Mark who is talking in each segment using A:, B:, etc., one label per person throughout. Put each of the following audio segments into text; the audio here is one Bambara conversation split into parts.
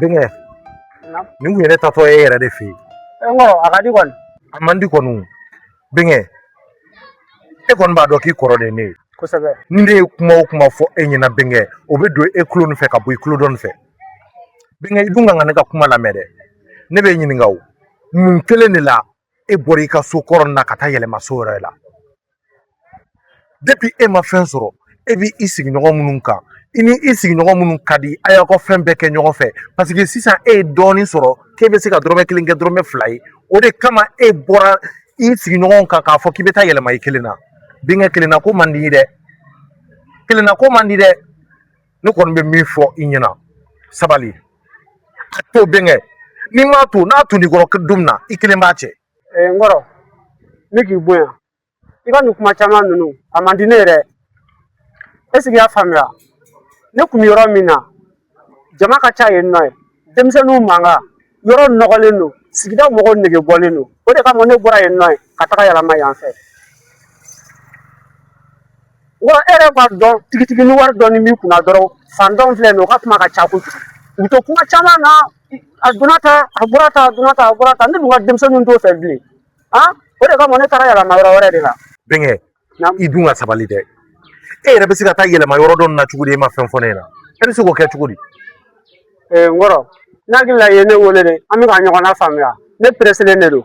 A: bɛnkɛ nin kun ye ne taatɔ ye e yɛrɛ de fɛ yen a ka di kɔni a man di kɔni bɛnkɛ e kɔni b'a dɔn k'i kɔrɔ de ne ye kosɛbɛ ni ne ye kuma o kuma fɔ e ɲɛna bɛnkɛ o bɛ don e kulo nin fɛ ka bɔ i kulo dɔ in fɛ bɛnkɛ i dun ka kan ne ka kuma lamɛn dɛ ne b'e ɲininka o mun kelen de la e bɔra i ka so kɔrɔ na ka taa yɛlɛma so wɛrɛ la depuis e ma fɛn sɔrɔ e b'i sigiɲɔgɔn minnu kan i ni i sigiɲɔgɔn minnu ka di a y'aw ka fɛn bɛɛ kɛ ɲɔgɔn fɛ paseke sisan e ye dɔɔnin sɔrɔ k'e bɛ se ka dɔrɔmɛ kelen kɛ dɔrɔmɛ fila ye o de kama e bɔra i sigiɲɔgɔnw kan k'a fɔ k'i bɛ taa yɛlɛma i kelen na bɛnkɛ kelenna ko man di dɛ kelenna ko man di dɛ ne kɔni bɛ min fɔ i ɲɛna sabali a to bɛnkɛ n'i m'a to n'a tun n'i kɔrɔ don min na i kelen b'a cɛ eh, n kɔrɔ ne k'i bonya i ka nin kuma caman ninnu a man di ne yɛrɛ ye ɛsike i y'a faamuya ne tun bɛ yɔrɔ min na jama ka ca yen nɔ ye denmisɛnninw mankan yɔrɔ nɔgɔlen don sigida mɔgɔw nege bɔlen don o de kama ne bɔra yen nɔ ka taga yɛlɛma yan fɛ wa e yɛrɛ b'a dɔn tigitigi ni wari dɔɔni b'i kunna dɔrɔn faantanw filɛ nin ye o ka kuma ka ca kojugu u bɛ to kuma caman na a donna tan a bɔra tan a donna tan a bɔra tan ne dun ka denmisɛnninw t'o fɛ bilen o de kama ne taara yɛlɛma yɔrɔ wɛrɛ de la bɛnkɛ i dun ka sabali dɛ e yɛrɛ bɛ se ka taa yɛlɛma yɔrɔ dɔ na cogo di e ma fɛn fɔ ne ɲɛna e bɛ se k'o kɛ cogo di n kɔrɔ n hakili la i ye ne wele dɛ an bɛ ka ɲɔgɔn nafaamuya ne pereselen de don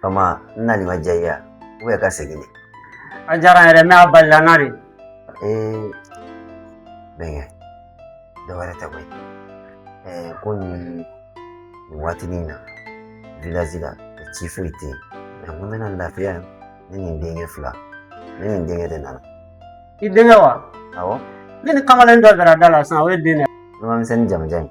A: fa ma n nali ma diya i ye u bɛ ka segin de a diyara n yɛrɛ mɛ a balala n na de ee bɛnkɛ dɔ wɛrɛ tɛ koyi ɛɛ ko nin nin waatini in na vilazi la ci foyi tɛ yen mɛ ko n bɛna lafiya ne ni n denkɛ fila ne ni n denkɛ de nana i denkɛ wa awɔ ne ni kamalen dɔ dara da la sisan o ye den dɛ ɲamamisɛnni jamajan in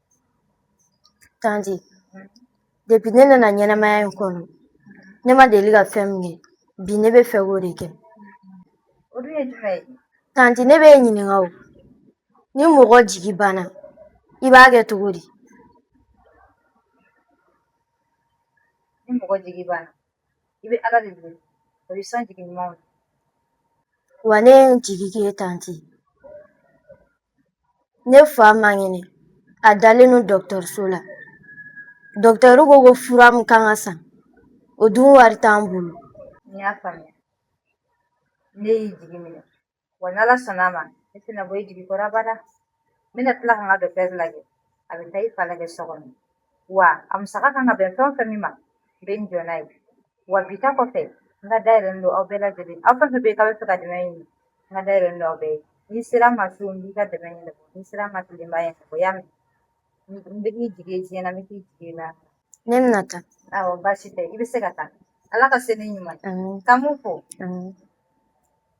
A: Tanti depuis ne nana ɲɛnamaya in kɔnɔ ne ma deli ka fɛn min ye bi ne bɛ fɛ k'o de kɛ tanti ne b'e ɲininka o ni mɔgɔ jigi banna i b'a kɛ cogo di ni mɔgɔ jigi banna i bɛ ala de deli o y'i sɔn jigi ɲuman na wa ne ye n jigi k'i ye tanti ne fa man kɛnɛ a dalen don dɔgɔtɔrɔso la dɔgɔtɔrɔ ko ko fura min kan ka san o dun wari t'an bolo n y'a faamuya ne y'i jigi minɛ wa n'ala sɔnna a ma ne tɛna bɔ i jigi kɔrɔ abada n bɛna tila ka n ka dɔgɔtɔrɔ lajɛ a bɛ taa i fa lajɛ so kɔnɔ wa a musaka kan ka bɛn fɛn o fɛn min ma n bɛ n jɔ n'a ye Wa bi ta kɔfɛ n ka da yɛlɛlen don aw bɛɛ lajɛlen aw fɛ bɛ kalo fɛ ka dɛmɛ ɲini n ka da yɛlɛlen don aw bɛɛ n'i sera n ma su n b'i ka dɛmɛ ɲɛnabɔ n'i sera n ma tile n b'a ɲɛnabɔ i y'a mɛn n bɛ k'i jigi diɲɛ na n bɛ k'i jigi na ne bɛna taa awɔ baasi tɛ i bɛ se ka taa ala ka se n'i ɲuman ye k'an b'u fo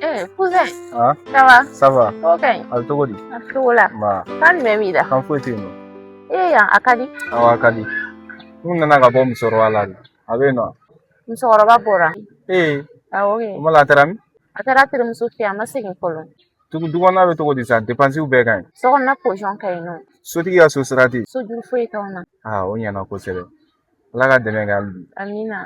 A: Eh, cousin. Ah. Ça va Ça va. Ok. A cogo di? A cogo la. Nba. Kan jumɛn b'i la? Kan foyi tɛ yen nɔ. Ee yan, a ka di. Awɔ, a ka di. N nana ka bɔ musokɔrɔba la de. A bɛ yen nɔ. Musokɔrɔba bɔra? Ee. Awɔ kɛ. I m'a dɔn a taara min? A taara terimuso fɛ yen, a ma segin fɔlɔ. Tugu du kɔnɔna bɛ cogo di sisan depansiw bɛɛ ka ɲi so kɔnɔna posɔn ka ɲi nɔ sotigi ka so sara tɛ yen so juru foyi t'anw na aa o ɲɛna kosɛbɛ ala ka dɛmɛ kɛ hali bi amina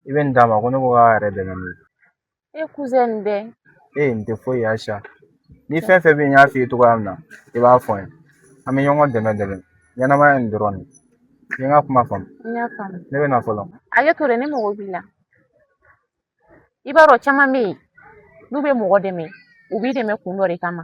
A: i bɛ nin d'a ma ko ne ko k'a yɛrɛ dɛmɛ n'o ye E kuzɛn nin bɛ ee nin tɛ foyi ye sa ni fɛn fɛn bɛ yen n y'a f'i ye cogoya min na i b'a fɔ n ye an bɛ ɲɔgɔn dɛmɛ dɛmɛ ɲɛnamaya nin dɔrɔn de i ye n ka kuma faamu n y'a faamu ne bɛ na fɔlɔ a ye to dɛ ne mago b'i la i b'a dɔn caman bɛ yen n'u bɛ mɔgɔ dɛmɛ u b'i dɛmɛ kun dɔ de kama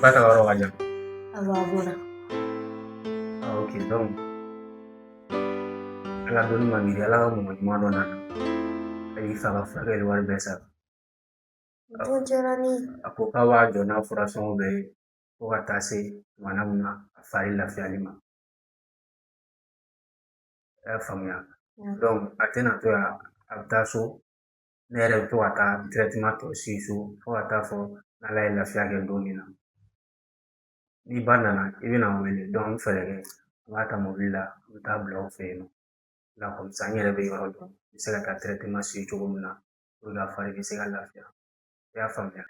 A: Ba ka yɔrɔ ka jan. Awɔ a b'o la. Ah ok donc Ala dɔnni man gɛlɛn Ala ka mɔgɔ ɲuman dɔ nana a y'i fa ka furakɛli wari bɛɛ sara dɔgɔtɔrɔ nin ye. A ko k'a b'a jɔ n'a fura sɔngɔ bɛɛ ye fo ka taa se tuma min na a fari lafiyali ma. I y'a faamuya donc a tɛna to yan a bɛ taa so ne yɛrɛ bɛ to ka taa traitement tɔ suivi so fo ka taa fɔ n'ala ye lafiya kɛ don min na n'i ba nana i bɛna n wele n bɛ fɛɛrɛ kɛ n b'a ta mobili la n bɛ taa bila u fɛ yen nɔ o la comme ça n yɛrɛ bɛ yɔrɔ dɔn n bɛ se ka taa traitement suivi cogo min na a fari bɛ se ka lafiya i y'a faamuya.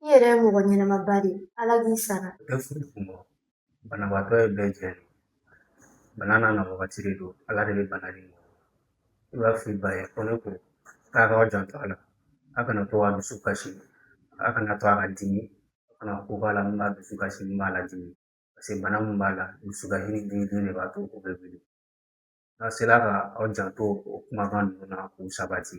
A: i yɛrɛ ye mɔgɔ ɲɛnama ba de ye ala k'i sara bɛɛ furu kun bɔ banabaatɔ ye bɛɛ jɛ de bana n'a na wagati de don ala de bɛ bana de mɔ i b'a f'i ba ye ko ne ko k'aw k'aw janto a la a kana to a dusu kasi a kana to a ka dimi a kana ko b'a la min b'a dusu kasi min b'a ladimi paseke bana min b'a la dusukasi ni dimi dimi de b'a to o bɛ wuli n'a sera ka aw janto o kumakan ninnu na k'u sabati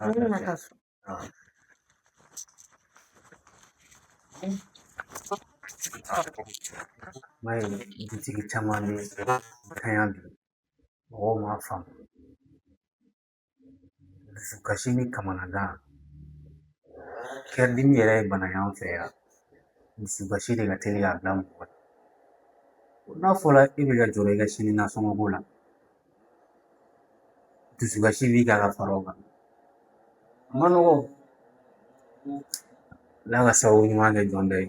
A: Mm dutigi caman de ka bana don mɔgɔ m'a faamu. Dusukasi ni kamanagan. Cœur dimi yɛrɛ ye bana y'an fɛ yan. Dusukasi de ka teli k'a bila mɔgɔ la. N'a fɔra e bɛ ka jɔrɔ i ka sini nasɔngɔ ko la Dusu kasi b'i kan ka fara o kan a man nɔgɔn Ala ka sababu ɲuman kɛ jɔn dɔ ye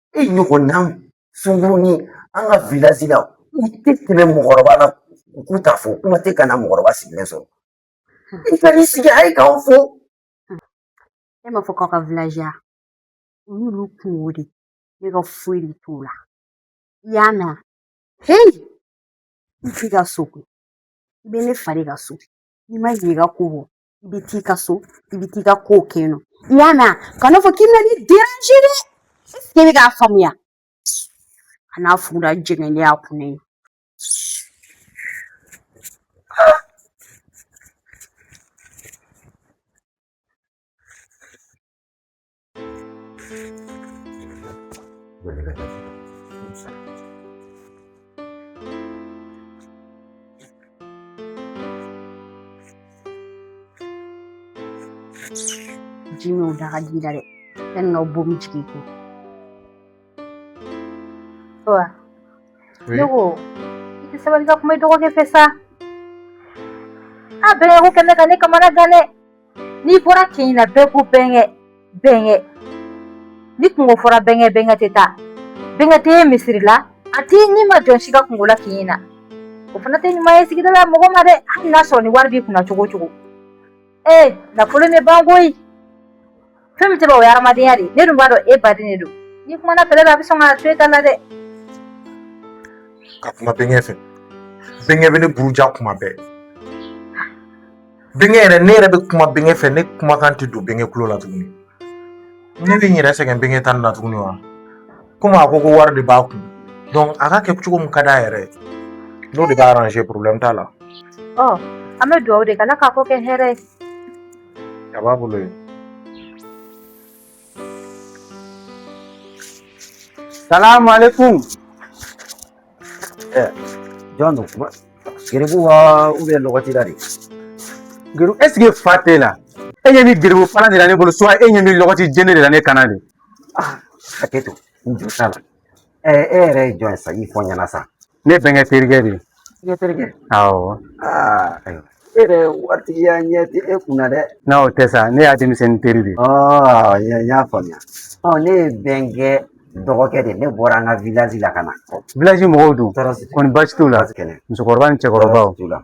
A: e ɲɔgɔn na sunkuruni an ka vilazi la u tɛ tɛmɛ mɔgɔkɔrɔba la u k'u t'a fo kuma tɛ ka na mɔgɔkɔrɔba sigilen sɔrɔ i ka n'i sigi a ye k'aw fo e m'a fɔ k'aw ka vilazi la o y'olu kunko de ne ka foyi de t'o la i y'a mɛn heyi i t'i ka so koyi i bɛ ne fa de ka so n'i ma ɲɛ i ka ko bɔ i bɛ t'i ka so i bɛ t'i ka kow kɛ yen nɔ i y'a mɛn ka n'a fɔ k'i bɛna ne déranger i bɛ k'a faamuya a n'a fugula jɛngɛnen y'a kun ye Ji min o da ka di la dɛ yanni n ka bɔ min jigin ko wa ne ko i tɛ sabali ka kuma i dɔgɔkɛ fɛ sa a bɛnkɛ ko kɛ bɛ ka ne kamana gan dɛ n'i bɔra kin na bɛɛ ko bɛnkɛ bɛnkɛ ni kunko fɔra bɛnkɛ bɛnkɛ tɛ taa bɛnkɛ tɛ ye misiri la a tɛ nima jɔn si ka kunko la kin na o fana tɛ ɲuman ye sigida la mɔgɔ ma dɛ hali n'a sɔrɔ ni wari b'i kunna cogo cogo ee nafolo bɛ ban koyi Fɛn min tɛ o ye hadamadenya de ye ne dun b'a dɔn e baden de don n'i kumana fɛlɛ bɛ a bɛ sɔn ka to e ta la dɛ ka kuma bɛnkɛ fɛ bɛnkɛ bɛ ne buruja kuma bɛɛ bɛnkɛ yɛrɛ ne yɛrɛ bɛ kuma bɛnkɛ fɛ ne kumakan tɛ don bɛnkɛ tulo la tuguni ne bɛ n yɛrɛ sɛgɛn bɛnkɛ ta la tuguni wa komi a ko ko wari de b'a kun donc a ka kɛ cogo min ka d'a yɛrɛ ye n'o de b'a arranger problème t'a la ɔ an bɛ dugawu de kɛ ala k'a ko kɛ hɛrɛ ye Ya ba bolo ye salamu alaikum eh, jɔn don kuma geribu wa ubiyɛn lɔgɔtila de geribu ɛseke fa t'e la e ɲɛ bɛ geribu palan de la ne bolo suwa e ɲɛ bɛ lɔgɔti jele de la ne kan na dɛ ah, hakɛ to n jo t'a la ɛ e yɛrɛ ye jɔn ye sa i fɔ n ɲɛna sa ne bɛnkɛ terikɛ de ye ne terikɛ awɔ ayiwa e yɛrɛ waritigiya ɲɛ tɛ e kun na dɛ n'a o tɛ sa ne y'a denmisɛnnin teri de ye ɔɔ n y'a faamuya ɔ ne ye bɛnkɛ dɔgɔkɛ de ne bɔra an ka vilazi la ka na vilazi mɔgɔw dun kɔni baasi t'u la musokɔrɔba ni cɛkɔrɔbaw t'u la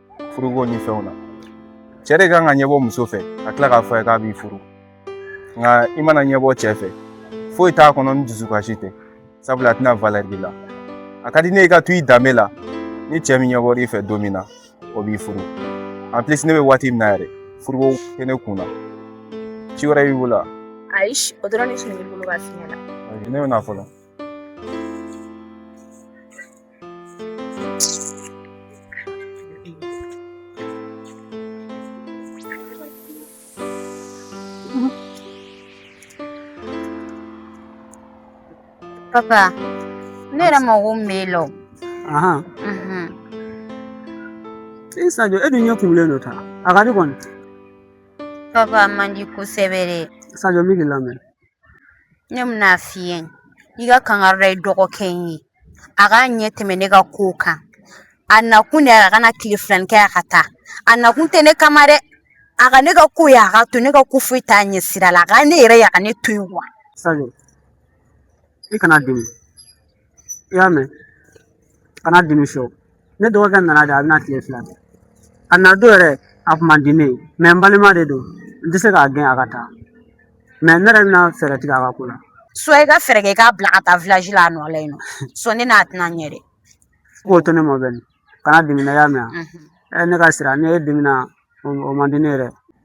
A: furuko ni fɛnw na cɛ de ka kan ka ɲɛbɔ muso fɛ ka tila k'a fɔ i ye k'a b'i furu nka i mana ɲɛbɔ cɛ fɛ foyi t'a kɔnɔ ni dusukasi tɛ sabula a tɛna valɛri b'i la a ka di ne ye i ka to i danbe la ni cɛ min ɲɛbɔr'i fɛ don min na o b'i furu en plus ne bɛ waati min na yɛrɛ furuko tɛ ne kun na ci wɛrɛ b'i bolo wa ayi o dɔrɔn de tun bɛ ne bolo k'a f'i ɲɛna ne bɛ na fɔlɔ Papa, ne yɛrɛ mago tun b'e la o. Ahan. Unhun. E Sadio, e dun ɲɛ kumulen don tan. A ka di kɔni. Papa, a man di kosɛbɛ dɛ. Sadio, n bɛ k'i lamɛn. ne bɛna a f'i ye i ka kangari da i dɔgɔkɛ in ye a k'a ɲɛ tɛmɛ ne ka kow kan a nakun de ye a ka na tile fila nin kɛ a ka taa a nakun tɛ ne kama dɛ a ka ne ka ko ye a k'a to ne ka ko foyi t'a ɲɛ sira la a ka ne yɛrɛ ye a ka ne to yen wa i kana dimi i y'a mɛn kana dimi fiyewu ne dɔgɔkɛ nana de a bɛna tile fila kɛ a na don yɛrɛ a tun man di ne ye mɛ n balima de don n tɛ se k'a gɛn a ka taa mɛ ne yɛrɛ bɛna fɛɛrɛ tigɛ a ka ko la so i ka fɛɛrɛ kɛ i k'a bila ka taa la a nɔ la yen nɔ so ne n'a tɛna ɲɛ dɛ k'o to ne ma bɛn kana dimina y'a mɛn ne ka sira ne ye dimina o man di ne yɛrɛ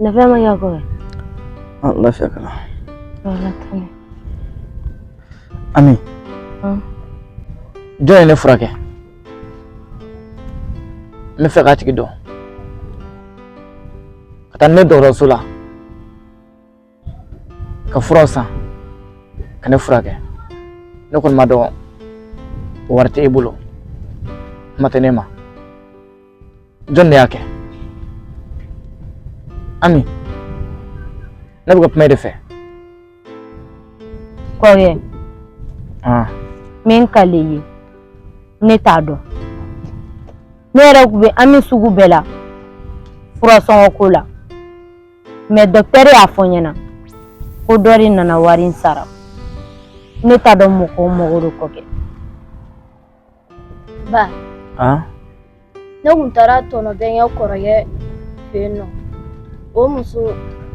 A: Nafia maji yako wewe. Allah shakala. Wala tani. Ami. Hmm. Jɔn ye ne furakɛ. N bɛ fɛ k'a tigi dɔn. Ka taa ni ne dɔgɔtɔrɔso la. ka furaw san ka ne furakɛ ne kɔni b'a dɔn wari tɛ e bolo kuma tɛ ne ma jɔn de y'a kɛ ami ne bɛ ka kuma e de fɛ kɔrɔkɛ ah. min kɛlen ye ne t'a dɔn ne yɛrɛ tun bɛ hami sugu bɛɛ la furasɔngɔ ko la mɛ dɔktɛri y'a fɔ n ɲɛna ko dɔ de nana wari in sara ne t'a dɔn mɔgɔ o mɔgɔ de k'o kɛ ba ne tun taara tɔnɔ bɛnkɛ kɔrɔkɛ fɛ yen nɔ o muso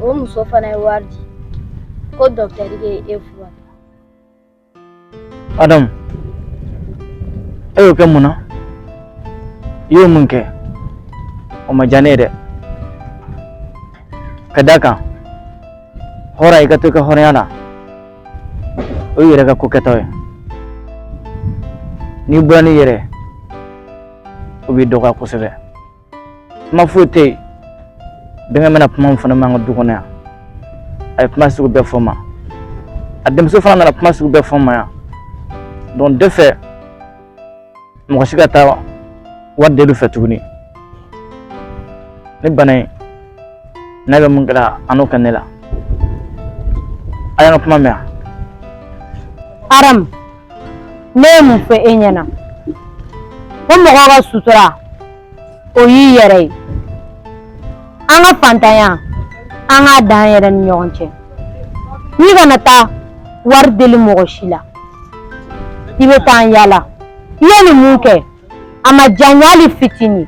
A: o muso fana ye wari di ko dɔktɛri ye e fura Adamu, e y'o kɛ mun na? I ye mun kɛ? O ma diya ne ye dɛ. Ka d'a kan hɔrɔn i ka to i ka hɔrɔnya la, o y'i yɛrɛ ka ko kɛta ye. N'i bɔra n'i yɛrɛ ye, o b'i dɔgɔya kosɛbɛ. kuma foyi tɛ yen bɛnkɛ mana kuma min fɔ ne ma an ka du kɔnɔ yan a ye kuma sugu bɛɛ fɔ n ma a denmuso fana nana kuma sugu bɛɛ fɔ n ma yan donc n tɛ fɛ mɔgɔ si ka taa wari deli u fɛ tuguni ni bana in n'a bɛ min kɛ n na a n'o kɛ ne la a y'an ka kuma mɛn yan aramu ne ye mun fɔ e ɲɛna ko mɔgɔ ka sutura o y'i yɛrɛ ye an ka fantanya an k'a dan an yɛrɛ ni ɲɔgɔn cɛ i kana taa wari deli mɔgɔ si la i bɛ taa an yaala i ye nin min kɛ a ma diya n ye hali fitinin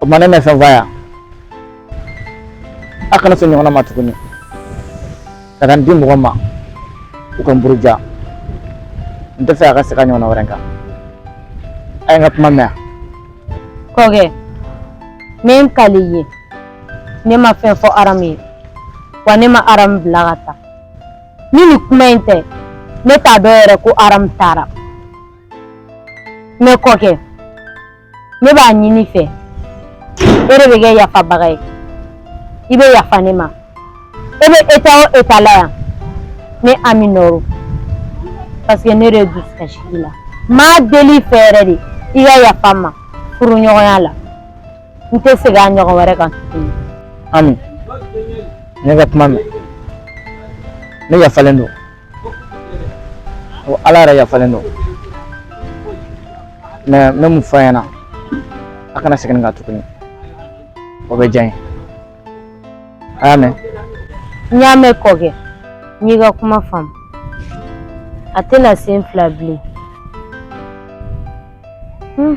A: O tuma ne bɛ fɛn fɔ yan a kana se o ɲɔgɔnna ma tuguni ka taa n di mɔgɔ ma u ka n buruja n tɛ fɛ a ka segin a ɲɔgɔnna wɛrɛ kan a ye n ka kuma mɛn kɔkɛ n bɛ n kali i ye ne ma fɛn fɔ aramu ye wa ne ma aramu bila ka taa ni nin kuma in tɛ ne t'a dɔn yɛrɛ ko aramu taara ne kɔkɛ ne b'a ɲini i fɛ e de bɛ kɛ yafabaga ye i bɛ yafa ne ma e bɛ état o état la yan ne ami nɔ don parce que ne de ye dusukasi kɛ i la n b'a deli i fɛ yɛrɛ de i ka yafa n ma furuɲɔgɔnya la n tɛ segin a ɲɔgɔn wɛrɛ kan tuguni ami n y'e ka kuma mɛn ne yafalen don ko ala yɛrɛ yafalen don mɛ n bɛ min fɔ a ɲɛna a kana segin nin kan tuguni o bɛ diya n ye a y'a mɛn n y'a mɛn kɔkɛ n y'i ka kuma faamu a tɛna sen fila bilen hmm.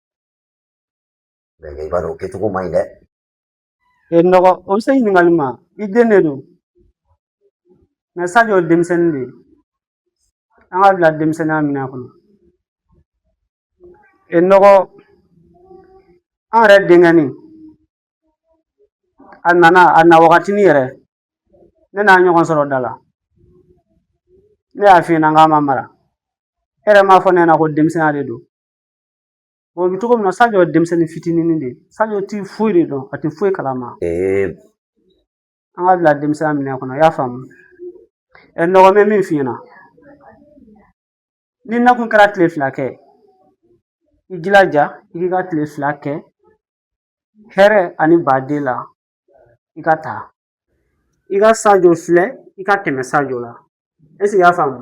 A: Mɛ i b'a dɔn o kɛcogo man ɲi dɛ ee n dɔgɔ o bɛ se ɲininkali ma i den de don mɛ sajo ye denmisɛnnin de ye an k'a bila denmisɛnninya minɛn kɔnɔ ee n dɔgɔ an yɛrɛ denkɛnin a nana a na wagatinin yɛrɛ ne n'a ɲɔgɔn sɔrɔ da la ne y'a f'i ɲɛna k'a ma mara e yɛrɛ m'a fɔ ne ɲɛna ko denmisɛnninya de don O bɛ cogo min na Sadio ye denmisɛnnin fitinin de ye Sadio ti foyi de dɔn a tɛ foyi kalama an k'a bila denmisɛnya minɛn kɔnɔ i y'a faamu ɛ nɔgɔ bɛ min f'i ɲɛna n'i nakun kɛra tile fila kɛ i jilaja i k'i ka tile fila kɛ hɛrɛ ani baden la i ka taa i ka sajo filɛ i ka tɛmɛ sajo la eseke i y'a faamu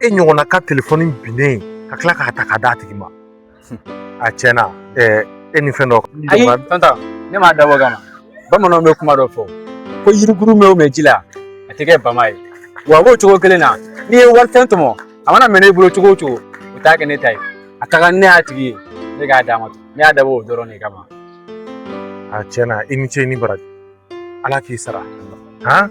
A: e ɲɔgɔnna ka telefɔni binnen ka tila k'a ta k'a d'a tigi ma a tiɲɛ na e ni fɛn dɔ ayi tɔnta ne m'a dabɔ o kama bamananw bɛ kuma dɔ fɔ ko yirikurun mɛn o mɛn ji la a tɛ kɛ bama ye wa a b'o cogo kelen na n'i ye wali fɛn tɔmɔ a mana mɛn ne bolo cogo o cogo o t'a kɛ ne ta ye a ka kan ne y'a tigi ye ne k'a d'a ma ne y'a dabɔ o dɔrɔn de kama a tiɲɛ na i ni ce i ni baraji ala k'i sara han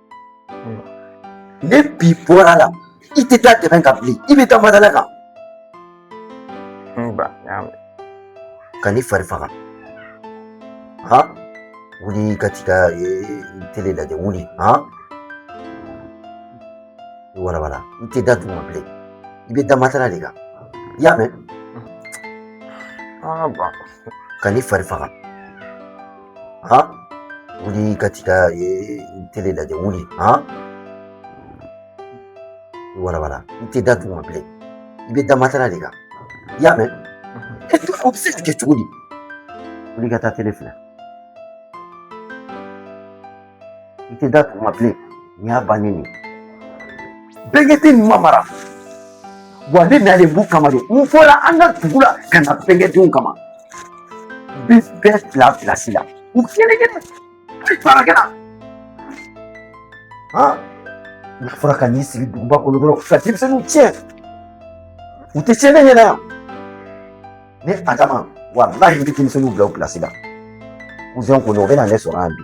A: ne bi bɔra la i tɛ da dɛbɛn kan bilen i bɛ da matala kan ba n y'a mɛn ka n'i fari faga ha wuli ka t'i ka tele lajɛ wuli ha i warabara i tɛ da duguma bilen i bɛ da matala de kan i y'a mɛn ka n'i fari faga ha wuli ka t'i ka tele lajɛ wuli ha walawala i tɛ da duguma bilen i bɛ da matala de kan i y'a mɛn o bɛ se ka kɛ cogo di wuli ka taa tele filɛ i tɛ da duguma bilen n y'a banni nin bɛnkɛdenw ma mara wa ne nalen b'u kama de n bɔra an ka dugu la ka na bɛnkɛdenw kama n bɛ bɛɛ bila pilasi la u kelen kelen hali baarakɛla han n'a fɔra ka n'i sigi duguba kɔnɔ dɔrɔn ka denmisɛnninw tiɲɛ u tɛ tiɲɛ ne ɲɛna yan Ne adama walahi n bɛ denmisɛnninw bila u pilasi la kuzɛn kɔni o bɛna ne sɔrɔ yan bi